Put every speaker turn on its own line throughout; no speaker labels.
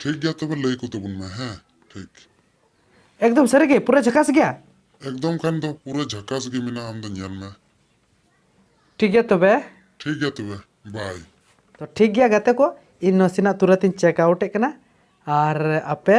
ᱴᱷᱤᱠ ᱜᱮᱭᱟ ᱛᱚᱵᱮ ᱞᱟᱹᱭ ᱠᱚ ᱛᱟᱵᱚᱱ ᱢᱮ ᱦᱮᱸ ᱴᱷᱤᱠ ᱮᱠᱫᱚᱢ
ᱥᱟᱹᱨᱤ ᱜᱮ ᱯᱩᱨᱟᱹ ᱡᱷᱟᱠᱟᱥ ᱜᱮᱭᱟ ᱮᱠᱫᱚᱢ ᱠᱷᱟᱱ ᱫᱚ
ᱯᱩᱨᱟᱹ ᱡᱷᱟᱠᱟᱥ ᱜᱮ ᱢᱮᱱᱟᱜᱼᱟ ᱟᱢ ᱫᱚ ᱧᱮᱞ ᱢᱮ
ᱴᱷᱤᱠ ᱜᱮᱭᱟ ᱛᱚᱵᱮ ᱴᱷᱤᱠ ᱜᱮᱭᱟ ᱛᱚᱵᱮ
ᱵᱟᱭ ᱛᱚ ᱴᱷᱤᱠ ᱜᱮᱭᱟ
ᱜᱟᱛᱮ ᱠᱚ ᱤᱧ ᱱᱟᱥᱮᱱᱟᱜ ᱛᱩᱨᱟᱹᱛ ᱤᱧ ᱪᱮᱠ ᱟᱣᱩᱴ ᱮᱫ ᱠᱟᱱᱟ ᱟᱨ ᱟᱯᱮ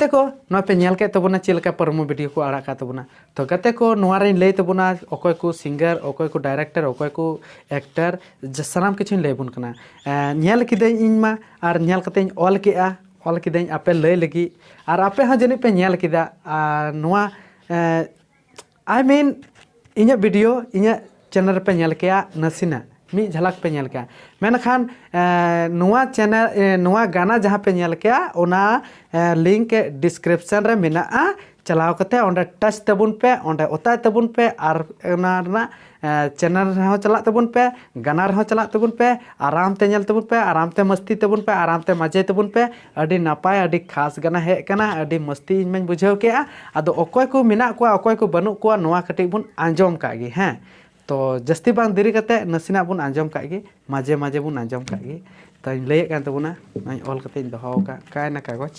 ᱜᱟᱛᱮ ᱠᱚ ᱱᱚᱣᱟ ᱯᱮ
ᱧᱮᱞ ᱠᱮᱫ ᱛᱟᱵᱚᱱᱟ ᱪᱮᱫ ᱞᱮᱠᱟ ᱯᱨᱚᱢᱳ ᱵᱷᱤᱰᱤᱭᱳ ᱠᱚ ᱟᱲᱟᱜ ᱠᱟᱜ ᱛᱟᱵᱚᱱᱟ ᱛᱚ ᱜᱟᱛᱮ ᱠᱚ ᱱᱚᱣᱟ ᱨᱮᱧ ᱞᱟᱹᱭ ᱛᱟᱵᱚᱱᱟ ᱚᱠᱚᱭ ᱠᱚ ᱥᱤᱝᱜᱟᱨ ᱚᱠᱚᱭ ᱠᱚ ᱰᱟᱭᱨᱮᱠᱴᱚᱨ ᱚᱠᱚᱭ ᱠᱚ ᱮᱠᱴᱟᱨ ᱥᱟᱱᱟᱢ ᱠᱤᱪᱷᱩᱧ ᱞᱟᱹᱭ ᱟᱵᱚᱱ ᱠᱟᱱᱟ ᱧᱮᱞ ᱠᱤᱫᱟᱹᱧ ᱤᱧ ᱢᱟ ᱟᱨ ᱧᱮᱞ ᱠᱟᱛᱮᱧ ᱚᱞ ᱠᱮᱜᱼᱟ ᱚᱞ ᱠᱤᱫᱟᱹᱧ ᱟᱯᱮ ᱞᱟᱹᱭ ᱞᱟᱹᱜᱤᱫ ᱟᱨ ᱟᱯᱮ ᱦᱚᱸ ᱡᱟᱹᱱᱤᱡ ᱯᱮ ᱧᱮᱞ ᱠᱮᱫᱟ ᱟᱨ ᱱᱚᱣᱟ ᱟᱭ ᱢᱤᱱ ᱤᱧᱟᱹᱜ ᱵᱷᱤᱰᱤᱭᱳ ᱤᱧᱟᱹᱜ ᱪᱮᱱᱮᱞ ᱨᱮᱯᱮ ᱧᱮᱞ ᱠᱮᱭᱟ ᱱᱟᱥᱮᱱᱟᱜ ᱢᱤᱫ ᱡᱷᱟᱞᱟᱠ ᱯᱮ ᱧᱮᱞ ᱠᱮᱭᱟ ᱢᱮᱱᱠᱷᱟᱱ ᱱᱚᱣᱟ ᱪᱮᱱᱮᱞ ᱱᱚᱣᱟ ᱜᱟᱱᱟ ᱡᱟᱦᱟᱸ ᱯᱮ ᱧᱮᱞ ᱠᱮᱭᱟ ᱚᱱᱟ ᱞᱤᱝᱠ ᱰᱤᱥᱠᱨᱤᱯᱥᱚᱱ ᱨᱮ ᱢᱮᱱᱟᱜᱼᱟ ᱪᱟᱞᱟᱣ ᱠᱟᱛᱮ ᱚᱸᱰᱮ ᱴᱟᱪ ᱛᱟᱵᱚᱱ ᱯᱮ ᱚᱸᱰᱮ ᱚᱛᱟᱭ ᱛᱟᱵᱚᱱ ᱯᱮ ᱟᱨ ᱚᱱᱟ ᱨᱮᱱᱟᱜ ᱪᱮᱱᱮᱞ ᱨᱮᱦᱚᱸ ᱪᱟᱞᱟᱜ ᱛᱟᱵᱚᱱ ᱯᱮ ᱜᱟᱱᱟ ᱨᱮᱦᱚᱸ ᱪᱟᱞᱟᱜ ᱛᱟᱵᱚᱱ ᱯᱮ ᱟᱨᱟᱢ ᱛᱮ ᱧᱮᱞ ᱛᱟᱵᱚᱱ ᱯᱮ ᱟᱨᱟᱢ ᱛᱮ ᱢᱟᱹᱥᱛᱤ ᱛᱟᱵᱚᱱ ᱯᱮ ᱟᱨᱟᱢ ᱛᱮ ᱢᱟᱡᱮ ᱛᱟᱵᱚᱱ ᱯᱮ ᱟᱹᱰᱤ ᱱᱟᱯᱟᱭ ᱟᱹᱰᱤ ᱠᱷᱟᱥ ᱜᱟᱱᱟ ᱦᱮᱡ ᱠᱟᱱᱟ ᱟᱹᱰᱤ ᱢᱟᱹᱥᱛᱤ ᱤᱧ ᱢᱟᱹᱧ ᱵᱩᱡᱷᱟᱹᱣ ᱠᱮᱜᱼᱟ ᱟᱫᱚ ᱚᱠᱚᱭ ᱠᱚ ᱢᱮᱱᱟᱜ ᱠᱚᱣᱟ ᱚᱠᱚᱭ ᱠᱚ ᱵᱟᱹᱱᱩᱜ ᱠᱚᱣᱟ ᱱᱚᱣᱟ ᱠᱟᱹᱴᱤᱡ ᱵᱚᱱ ᱟᱸᱡᱚᱢ ᱠᱟᱜ ᱜᱮ ᱦᱮᱸ ᱛᱚ ᱡᱟᱹᱥᱛᱤ ᱵᱟᱝ ᱫᱮᱨᱤ ᱠᱟᱛᱮ ᱱᱟᱥᱮᱱᱟᱜ ᱵᱚᱱ ᱟᱸᱡᱚᱢ ᱠᱟᱜ ᱜᱮ ᱢᱟᱡᱮ ᱢᱟᱡᱮ ᱵᱚᱱ ᱟᱸᱡᱚᱢ ᱠᱟᱜ ᱜᱮ ᱛᱚᱧ ᱞᱟᱹᱭᱮᱫ ᱠᱟᱱ ᱛᱟᱵᱚᱱᱟ ᱱᱚᱜᱼᱚᱭ ᱚᱞ ᱠᱟᱛᱮᱧ ᱫᱚᱦᱚ ᱠᱟᱜ ᱠᱟᱭᱱᱟ ᱠᱟᱜᱚᱡᱽ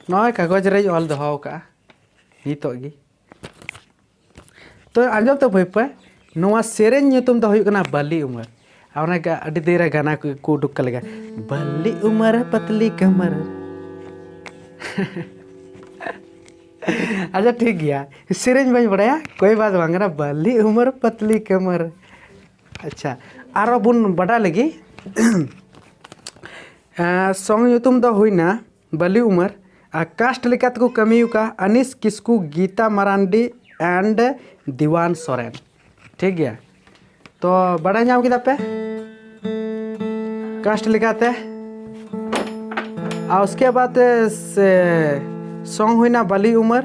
ᱱᱚᱜᱼᱚᱭ ᱠᱟᱜᱚᱡᱽ ᱨᱮᱧ ᱚᱞ ᱫᱚᱦᱚ ᱟᱠᱟᱫᱼᱟ ᱱᱤᱛᱚᱜ ᱜᱮ ᱛᱚ ᱟᱸᱡᱚᱢ ᱛᱚ ᱵᱷᱟᱹᱭ ᱯᱟᱹᱭ ᱱᱚᱣᱟ ᱥᱮᱨᱮᱧ ᱧᱩᱛᱩᱢ ᱫᱚ ᱦᱩᱭᱩᱜ ᱠᱟᱱᱟ ᱵᱟᱹᱞᱤ ᱩᱢᱟᱹᱨ ᱟᱨ ᱚᱱᱟ ᱟᱹᱰᱤ ᱫᱤᱱ ᱨᱮ ᱜᱟᱱᱟ ᱠᱚ ᱠᱚ ᱩᱰᱩᱠ ᱠᱟᱜ ᱞᱮᱠᱟ ᱵᱟᱹᱞᱤ ᱩᱢᱟᱹᱨ ᱯᱟᱛᱞᱤ ᱠᱟᱢᱟᱨ ᱟᱪᱪᱷᱟ ᱴᱷᱤᱠ ᱜᱮᱭᱟ ᱥᱮᱨᱮᱧ ᱵᱟᱹᱧ ᱵᱟᱲᱟᱭᱟ ᱠᱳᱭ ᱵᱟᱛ ᱵᱟᱝ ᱠᱟᱱᱟ ᱵᱟᱹᱞᱤ ᱩᱢᱟᱹᱨ ᱯᱟᱛᱞᱤ ᱠᱟᱢᱟᱨ ᱟᱪᱪᱷᱟ ᱟᱨᱚ ᱵᱚᱱ ᱵᱟᱰᱟᱭ ᱞᱟᱹᱜᱤᱫ ᱥᱚᱝ ᱧᱩᱛᱩᱢ ᱫᱚ ᱦᱩᱭᱱᱟ ᱵᱟᱹᱞᱤ ᱩᱢᱟᱹᱨ ᱟᱨ ᱠᱟᱥᱴ ᱞᱮᱠᱟ ᱛᱮᱠᱚ ᱠᱟᱹᱢᱤ ᱟᱠᱟᱫ ᱟᱹᱱᱤᱥ ᱠᱤᱥᱠᱩ ᱜᱤᱛᱟ ᱢᱟᱨᱟᱱᱰᱤ ᱮᱱᱰ ᱫᱤᱣᱟᱱ ᱥᱚᱨᱮᱱ ᱴᱷᱤᱠ ᱜᱮᱭᱟ ᱛᱚ ᱵᱟᱰᱟᱭ ᱧᱟᱢ ᱠᱮᱫᱟ ᱯᱮ ᱠᱟᱥᱴ ᱞᱮᱠᱟᱛᱮ ᱟᱨ ᱩᱥᱠᱮ ᱵᱟᱫ ᱥᱚᱝ ᱦᱩᱭᱱᱟ ᱵᱟᱹᱞᱤ ᱩᱢᱟᱹᱨ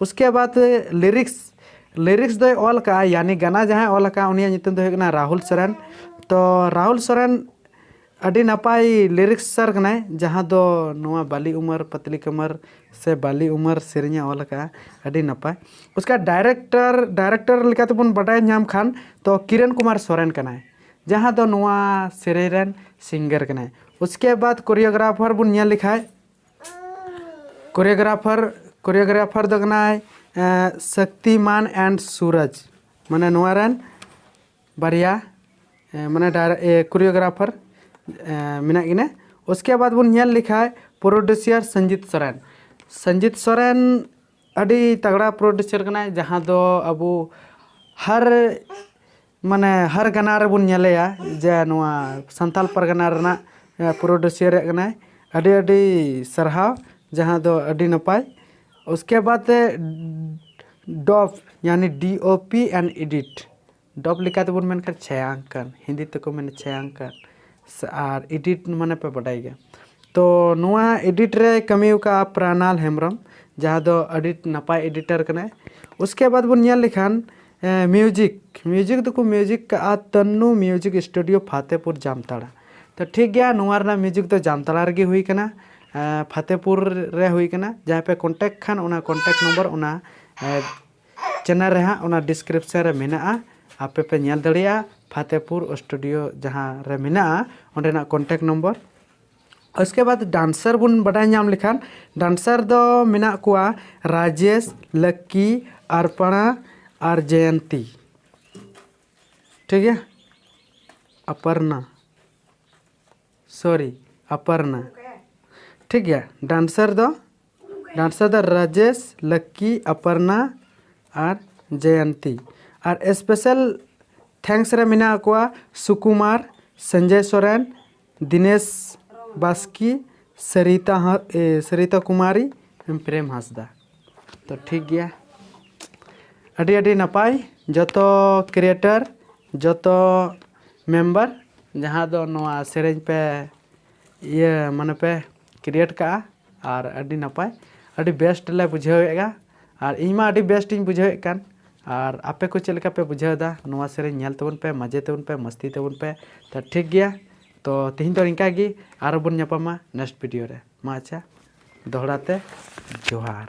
ᱩᱥᱠᱮ ᱵᱟᱫᱽ ᱞᱤᱨᱤᱠᱥ ᱞᱤᱨᱤᱠᱥ ᱫᱚᱭ ᱚᱞ ᱠᱟᱜᱼᱟ ᱭᱟᱱᱤ ᱜᱟᱱᱟ ᱡᱟᱦᱟᱸᱭ ᱚᱞ ᱠᱟᱜᱼᱟ ᱩᱱᱤᱭᱟᱜ ᱧᱩᱛᱩᱢ ᱫᱚ ᱦᱩᱭᱩᱜ ᱠᱟᱱᱟ ᱨᱟᱦᱩᱞ ᱥᱚᱨᱮᱱ ᱛᱚ ᱨᱟᱦᱩᱞ ᱥᱚᱨᱮᱱ ᱟᱹᱰᱤ ᱱᱟᱯᱟᱭ ᱞᱤᱨᱤᱠᱥ ᱥᱟᱨ ᱠᱟᱱᱟᱭ ᱡᱟᱦᱟᱸ ᱫᱚ ᱱᱚᱣᱟ ᱵᱟᱞᱤ ᱩᱢᱟᱹᱨ ᱯᱟᱛᱞᱤ ᱠᱟᱢᱟᱨ ᱥᱮ ᱵᱟᱞᱤ ᱩᱢᱟᱹᱨ ᱥᱮᱨᱮᱧᱮ ᱚᱞ ᱠᱟᱜᱼᱟ ᱟᱹᱰᱤ ᱱᱟᱯᱟᱭ ᱩᱥᱠᱮ ᱰᱟᱭᱨᱮᱠᱴᱚᱨ ᱰᱟᱭᱨᱮᱠᱴᱚᱨ ᱞᱮᱠᱟ ᱛᱮᱵᱚᱱ ᱵᱟᱰᱟᱭ ᱧᱟᱢ ᱠᱷᱟᱱ ᱛᱚ ᱠᱤᱨᱚᱱ ᱠᱩᱢᱟᱨ ᱥᱚᱨᱮᱱ ᱠᱟᱱᱟᱭ ᱡᱟᱦᱟᱸ ᱫᱚ ᱱᱚᱣᱟ ᱥᱮᱨᱮᱧ ᱨᱮᱱ ᱥᱤᱝᱜᱟᱨ ᱠᱟᱱᱟᱭ ᱩᱥᱠᱮ ᱵᱟᱫᱽ ᱠᱳᱨᱤᱭᱳᱜᱨᱟᱯᱷᱟᱨ ᱵᱚᱱ ᱧᱮᱞ ᱞᱮᱠᱷᱟᱱ ᱠᱳᱨᱤᱭᱳᱜᱨᱟᱯᱷᱟᱨ ᱠᱳᱨᱤᱭᱳᱜᱨᱟᱯᱷᱟᱨ ᱫᱚ ᱠᱟᱱᱟᱭ ᱥᱚᱠᱛᱤᱢᱟᱱ ᱮᱱᱰ ᱥᱩᱨᱚᱡᱽ ᱢᱟᱱᱮ ᱱᱚᱣᱟ ᱨᱮᱱ ᱵᱟᱨᱭᱟ ᱢᱟᱱᱮ ᱠᱳᱨᱤᱭᱳᱜᱨᱟᱯᱷᱟᱨ ᱢᱮᱱᱟᱜ ᱠᱤᱱᱟ ᱩᱥᱠᱮ ᱵᱟᱫ ᱵᱚᱱ ᱧᱮᱞ ᱞᱮᱠᱷᱟᱡ ᱯᱨᱚᱰᱩᱥᱤᱭᱟᱨ ᱥᱚᱧᱡᱤᱛ ᱥᱚᱨᱮᱱ ᱥᱚᱧᱡᱤᱛ ᱥᱚᱨᱮᱱ ᱟᱹᱰᱤ ᱛᱟᱜᱽᱲᱟ ᱯᱨᱚᱰᱩᱥᱟᱨ ᱠᱟᱱᱟᱭ ᱡᱟᱦᱟᱸ ᱫᱚ ᱟᱵᱚ ᱦᱟᱨ ᱢᱟᱱᱮ ᱦᱟᱨ ᱜᱟᱱᱟ ᱨᱮᱵᱚᱱ ᱧᱮᱞᱮᱭᱟ ᱡᱮ ᱱᱚᱣᱟ ᱥᱟᱱᱛᱟᱲ ᱯᱟᱨᱜᱟᱱᱟ ᱨᱮᱱᱟᱜ ᱯᱨᱚᱰᱩᱥᱤᱭᱟᱨ ᱠᱟᱱᱟᱭ ᱟᱹᱰᱤ ᱟᱹᱰᱤ ᱥᱟᱨᱦᱟᱣ ᱡᱟᱦᱟᱸ ᱫᱚ ᱟᱹᱰᱤ ᱱᱟᱯᱟᱭ ᱩᱥᱠᱮ ᱵᱟᱫ ᱰᱚᱵ ᱡᱟᱱᱤ D O P and edit dub ᱞᱮᱠᱟ ᱛᱮᱵᱚᱱ ᱢᱮᱱ ᱠᱷᱟᱱ ᱪᱷᱟᱭᱟᱝᱠᱚᱱ ᱦᱤᱱᱫᱤ ᱛᱮᱠᱚ ᱢᱮᱱᱟ ᱪᱷᱟᱭᱟᱝᱠᱚᱱ ᱥᱮ ᱟᱨ ᱮᱰᱤᱴ ᱢᱟᱱᱮ ᱯᱮ ᱵᱟᱰᱟᱭ ᱜᱮᱭᱟ ᱛᱚ ᱱᱚᱣᱟ ᱮᱰᱤᱴ ᱨᱮ ᱠᱟᱹᱢᱤ ᱟᱠᱟᱫᱼᱟ ᱯᱨᱟᱱᱟᱞ ᱦᱮᱢᱵᱨᱚᱢ ᱡᱟᱦᱟᱸ ᱫᱚ ᱟᱹᱰᱤ ᱱᱟᱯᱟᱭ ᱮᱰᱤᱴᱟᱨ ᱠᱟᱱᱟᱭ ᱩᱥᱠᱮ ᱵᱟᱫᱽ ᱵᱚᱱ ᱧᱮᱞ ᱞᱮᱠᱷᱟᱱ ᱢᱤᱭᱩᱡᱤᱠ ᱢᱤᱭᱩᱡᱤᱠ ᱫᱚᱠᱚ ᱢᱤᱭᱩᱡᱤᱠ ᱠᱟᱜᱼᱟ ᱛᱟᱱᱱᱩ ᱢᱤᱭᱩᱡᱤᱠ ᱥᱴᱩᱰᱤᱭᱳ ᱯᱷᱟᱛᱮᱯᱩᱨ ᱡᱟᱢᱛᱟᱲᱟ ᱛᱚ ᱴᱷᱤᱠ ᱜᱮᱭᱟ ᱱᱚᱣᱟ ᱨᱮᱱᱟᱜ ᱢᱤᱭᱩᱡᱤᱠ ᱫᱚ ᱡᱟᱢᱛᱟᱲᱟ ᱨᱮᱜᱮ ᱦᱩᱭ ᱠᱟᱱᱟ ᱯᱷᱟᱛᱮᱯᱩᱨ ᱨᱮ ᱦᱩᱭ ᱠᱟᱱᱟ ᱡᱟᱦᱟᱸᱭ ᱯᱮ ᱠᱚᱱᱴᱟᱠᱴ ᱠᱷᱟᱱ ᱚᱱᱟ ᱠᱚᱱᱴᱟᱠᱴ ᱱᱚᱢᱵᱚᱨ ᱚᱱᱟ ᱪᱮᱱᱮᱞ ᱨᱮ ᱦᱟᱸᱜ ᱚᱱᱟ ᱰᱤᱥᱠᱨᱤᱯᱥᱚᱱ ᱨᱮ ᱢᱮᱱᱟᱜᱼᱟ ᱟᱯᱮ ᱯᱮ ᱧᱮᱞ ᱫᱟᱲᱮᱭᱟᱜᱼᱟ ᱯᱷᱟᱛᱮᱯᱩᱨ ᱥᱴᱩᱰᱤᱭᱳ ᱡᱟᱦᱟᱸ ᱨᱮ ᱢᱮᱱᱟᱜᱼᱟ ᱚᱸᱰᱮᱱᱟᱜ ᱠᱚᱱᱴᱟᱠᱴ ᱱᱚᱢᱵᱚᱨ ᱩᱥᱠᱮ ᱵᱟᱫ ᱰᱟᱱᱥᱟᱨ ᱵᱚᱱ ᱵᱟᱰᱟᱭ ᱧᱟᱢ ᱞᱮᱠᱷᱟᱱ ᱰᱟᱱᱥᱟᱨ ᱫᱚ ᱢᱮᱱᱟᱜ ᱠᱚᱣᱟ ᱨᱟᱡᱮᱥ ᱞᱟᱠᱠᱤ ᱟᱨᱯᱟᱬᱟ ᱟᱨ ᱡᱚᱭᱚᱱᱛᱤ ᱴᱷᱤᱠ ᱜᱮᱭᱟ ᱟᱯᱟᱨᱱᱟ ᱥᱚᱨᱤ ᱟᱯᱟᱨᱱᱟ ᱴᱷᱤᱠ ᱜᱮᱭᱟ ᱰᱟᱱᱥᱟᱨ ᱫᱚ ᱰᱟᱱᱥᱟᱨ ᱫᱚ ᱨᱟᱡᱮᱥ ᱞᱟᱠᱠᱤ ᱟᱯᱟᱨᱱᱟ ᱟᱨ ᱡᱚᱭᱚᱱᱛᱤ ᱟᱨ ᱥᱯᱮᱥᱟᱞ ᱛᱷᱮᱝᱠᱥ ᱨᱮ ᱢᱮᱱᱟᱜ ᱠᱚᱣᱟ ᱥᱩᱠᱩᱢᱟᱨ ᱥᱚᱧᱡᱚᱭ ᱥᱚᱨᱮᱱ ᱫᱤᱱᱮᱥ ᱵᱟᱥᱠᱤ ᱥᱟᱹᱨᱤᱛᱟ ᱦᱟᱸᱥ ᱥᱟᱹᱨᱤᱛᱟ ᱠᱩᱢᱟᱨᱤ ᱯᱨᱮᱢ ᱦᱟᱸᱥᱫᱟ ᱛᱚ ᱴᱷᱤᱠ ᱜᱮᱭᱟ ᱟᱹᱰᱤ ᱟᱹᱰᱤ ᱱᱟᱯᱟᱭ ᱡᱚᱛᱚ ᱠᱨᱤᱭᱮᱴᱟᱨ ᱡᱚᱛᱚ ᱢᱮᱢᱵᱟᱨ ᱡᱟᱦᱟᱸ ᱫᱚ ᱱᱚᱣᱟ ᱥᱮᱨᱮᱧ ᱯᱮ ᱤᱭᱟᱹ ᱢᱟᱱᱮ ᱯᱮ ᱠᱨᱤᱭᱮᱴ ᱠᱟᱜᱼᱟ ᱟᱨ ᱟᱹᱰᱤ ᱱᱟᱯᱟᱭ ᱟᱹᱰᱤ ᱵᱮᱥᱴ ᱞᱮ ᱵᱩᱡᱷᱟᱹᱣᱮᱜᱼᱟ ᱟᱨ ᱤᱧ ᱢᱟ ᱟᱹᱰᱤ ᱵᱮᱥᱴ ᱤᱧ ᱵᱩᱡᱷᱟᱹᱣᱮᱜ ᱠᱟᱱ ᱟᱨ ᱟᱯᱮ ᱠᱚ ᱪᱮᱫ ᱞᱮᱠᱟ ᱯᱮ ᱵᱩᱡᱷᱟᱹᱣᱫᱟ ᱱᱚᱣᱟ ᱥᱮᱨᱮᱧ ᱧᱮᱞ ᱛᱟᱵᱚᱱ ᱯᱮ ᱢᱟᱡᱮ ᱛᱟᱵᱚᱱ ᱯᱮ ᱢᱟᱥᱛᱤ ᱛᱟᱵᱚᱱ ᱯᱮ ᱛᱚ ᱴᱷᱤᱠ ᱜᱮᱭᱟ ᱛᱚ ᱛᱮᱦᱮᱧ ᱫᱚ ᱤᱱᱠᱟ ᱜᱮ ᱟᱨᱚ ᱵᱚᱱ ᱧᱟᱯᱟᱢᱟ ᱱᱮᱠᱥᱴ ᱵᱷᱤᱰᱤᱭᱳ ᱨᱮ ᱢᱟ ᱟᱪᱪᱷᱟ ᱫᱚᱦᱲᱟ ᱛᱮ ᱡᱚᱦᱟᱨ